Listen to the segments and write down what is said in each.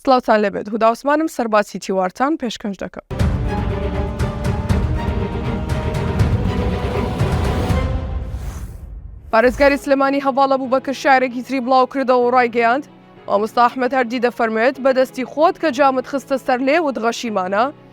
سڵاوتان لێبێت هودا عوسمانم سەرباسی تیوارتان پێشکەش دەکەم. پارێزگاری سلێمانی هەواڵە بوو بەکر شارێکی تری بڵاو کردەوە و ڕایگەیاند مامۆستا ئەحمد هەردی دەفەرموێت بەدەستی خۆت کە جامت خستە سەر لێ وت غەشیمانە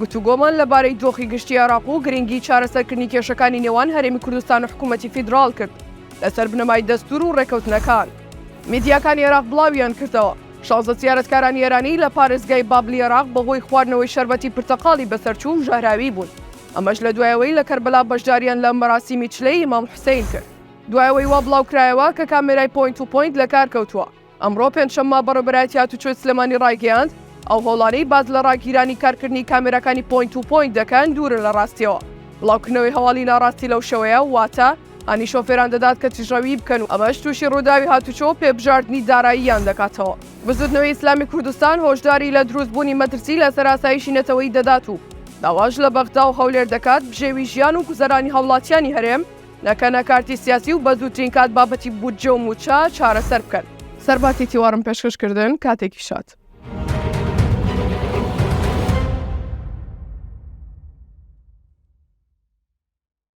گفتوگۆمان لەبارەی دۆخی گشتی عێراق و گرنگی چارەسەرکردنی کێشەکانی نێوان هەرێمی کوردستان و حکوومەتی فیدراڵ کرد لەسەر بنەمای دەستوور و ڕێککەوتنەکان. میدیاکانی عێراق بڵاویانکردەوە، شازدە زیارەتکارانی ئێرانی لە پارێزگای بابلی عێراق بەهۆی خواردنەوەی شەربەتی پرتەقاڵی بەسەرچوو و ژەهراوی بوون، ئەمەش لە دوای ئەوەی لە کەربەلا بەشداریان لە مەراسیمی چلەی ئیمام حوسەین کرد. دوای ئەوەی وا بڵاوکرایەوە کە کامێرای پۆینت تو پۆینت لەکارکەوتووە، ئەمڕۆ پێنجشەممە بەڕێوەبەرایەتی هاتوچۆی سلێمانی ڕایگەیاند، ئەو هۆڵانەی باس لە ڕاگیرانی کارکردنی کامێراکانی پۆینت تو پۆینت دەکەن دوورن لە ڕاستییەوە. بڵاوکردنەوەی هەواڵی ناڕاستی لەو شێوەیە واتە هانی شۆفێران دەدات کە تیژڕەویی بکەن و ئەمەش تووشی ڕووداوی هاتوچۆ و پێبژاردنی داراییان دەکاتەوە. بزووتنەوەی ئیسلامی کوردستان هۆشداری لە دروستبوونی مەترسی لەسەر ئاسایشی نەتەوەیی دەدات و داواش لە بەغدا و هەولێر دەکات بژێوی ژیان و گوزەرانی هاوڵاتیانی هەرێم نەکەنە کارتی سیاسی و بەزووترین کات بابەتی بودجە و مووچە چارەسەر بکەن. سەرباتی تیوارم پێشکەش کردن کاتێکی شاد.